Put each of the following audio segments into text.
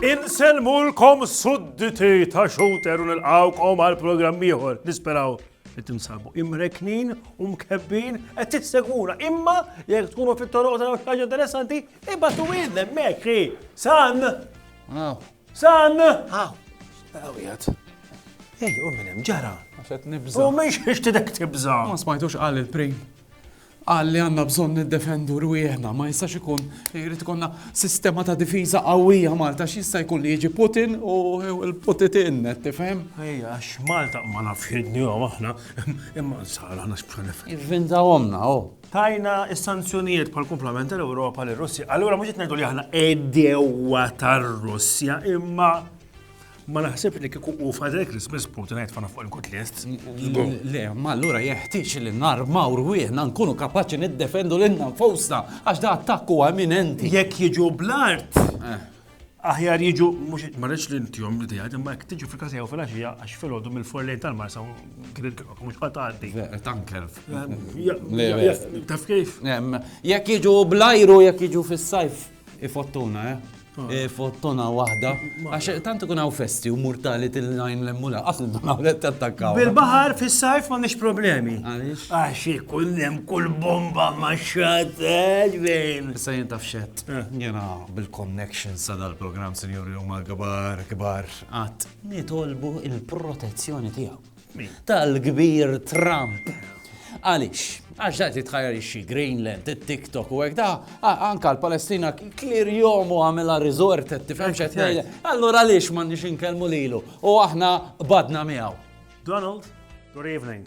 Insellmulkom sudditi ta' xuter u nilqawkom għal programm ieħor nisperaw li tinsabu imreknin u mkebbin qed tissegura imma jekk tkunu fit-toroq ta' xaġa interessanti ibatu wien hemmhekk san. San! Aw! Aw jgħat. Ej, u minn hemm ġara. Għaxet nibża. U minn xiex tidek tibża. Ma smajtux qal il-prim. Qal li għandna bżonn niddefendu rwieħna, ma jistax ikun jrid ikonna sistema ta' difiża qawwija Malta x'jista' jkun li jiġi Putin u l-Putitin, tifhem? Ej, għax Malta ma nafx jidni aħna, imma nsar aħna x'bħanef. Ivvinta omna, oh. Tajna s-sanzjonijiet bħal kumplament tal-Ewropa lir russja Allura mhux qed ngħidu li aħna edewa tar-Russja imma ma naħseb li kieku u Father Christmas Putin għajt fana fuq il-kut list. Le, ma allura jeħtieġ li narmaw rwieħna nkunu kapaċi niddefendu lilna nfosna għax da attakku eminenti. Jekk jiġu blart, eh. aħjar jiġu, mux marriċ li ntijom li tijad, imma jek tiġu fil-kasa jew fil-axija, għax fil-ħodu mill-forlejn tal-marsa, mux għataddi. Tanker. Taf kif? Jek jiġu blajru, jek jiġu fil-sajf, ifottuna, eh? Ah. Ifottuna wahda, għax tant ikun għaw festi u mortali til-lajn l-emmula, għafni d-dunaw li t-tattakkaw. Bil-bahar fil-sajf ma nix problemi. Għax ikun hemm kull bomba ma xateġ bejn. Sa jintaf xed. Jiena bil-connections ta' dal-programm sinjuri huma kbar, kbar qatt. Nitolbu il-protezzjoni tiegħu. Tal-kbir Trump. Għaliex? Għax da titħajjar ixxi Greenland, it-TikTok u hekk da, anka l-Palestina klir jomu għamela resort qed tifhem x'qed ngħid. Allura għaliex m'għandniex inkellmu lilu u aħna badna miegħu. Donald, good evening.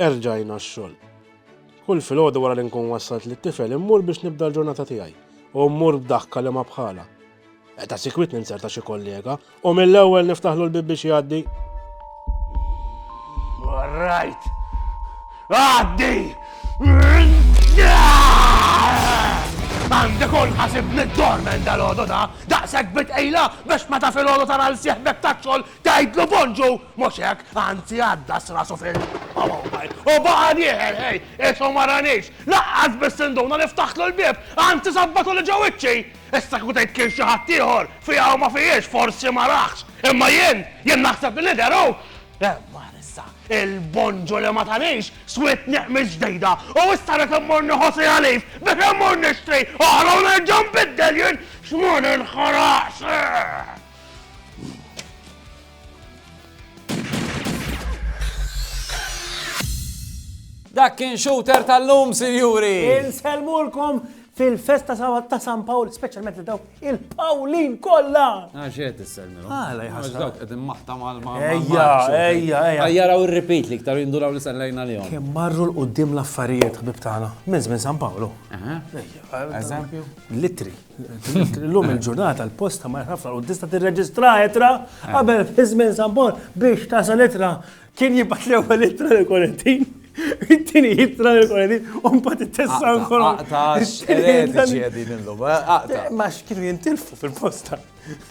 Erġajna x-xogħol. Kull filgħodu wara li nkun wassalt lit-tifel immur biex nibda l-ġurnata tiegħi u mmur b'daħka li ma bħalha. Ta' sikwit ninzerta xi kollega u mill-ewwel niftaħlu l-bieb biex jgħaddi. Warrajt! Għaddi! Għandek ul ħasib mid-dormen dal-għodu da, daqsek bitqejla biex ma ta' filgħodu tara l-sieħbek ta' xogħol tgħidlu bonġu Mhux hekk, anzi għaddas rasu fil. U baqa' dieħel, ħej, qisu ma ranix! Laqqas biss induna li ftaħtlu l-bieb, anzi sabbatuli ġo wiċċi! Issa kieku tgħid kien xi ħadd ieħor, fiha u ma fijiex, forsi ma raħx, imma jien, jien naħseb li nidher hu! Imma issa, il-bonġu li ma tanix, swied neqmiż ġdejda, u issa rrid immur nieħu siegħa leave biex immur nixtri oħra u nerġa' nbiddel jien! X'ma ninħaraqx! Dak kien shooter tal-lum, sinjuri! Inselmulkom fil-festa sabat ta' San Pawl, specialment li daw il-Pawlin kolla! Għaxet il-selmilu. Għala jħasra. Dawk għedin maħta mal ma Ejja, ejja, ejja. Għajjaraw il-repeat li ktar jinduraw li sellajna li għom. Kem marru l-qoddim l-affarijiet, ħbib tagħna, minn żmien San Pawlu. Eżempju? Litri. Illum il-ġurnata l-posta ma ħafna u tista' tirreġistra etra qabel fi żmien Sampon biex tasal etra kien jibgħat l-ewwel etra l korentin Tini jitra l korentin u mbagħad it-tessa nkun. Ta' xeredi ġiedin illum. Eh, ma x'kienu jintilfu fil-posta.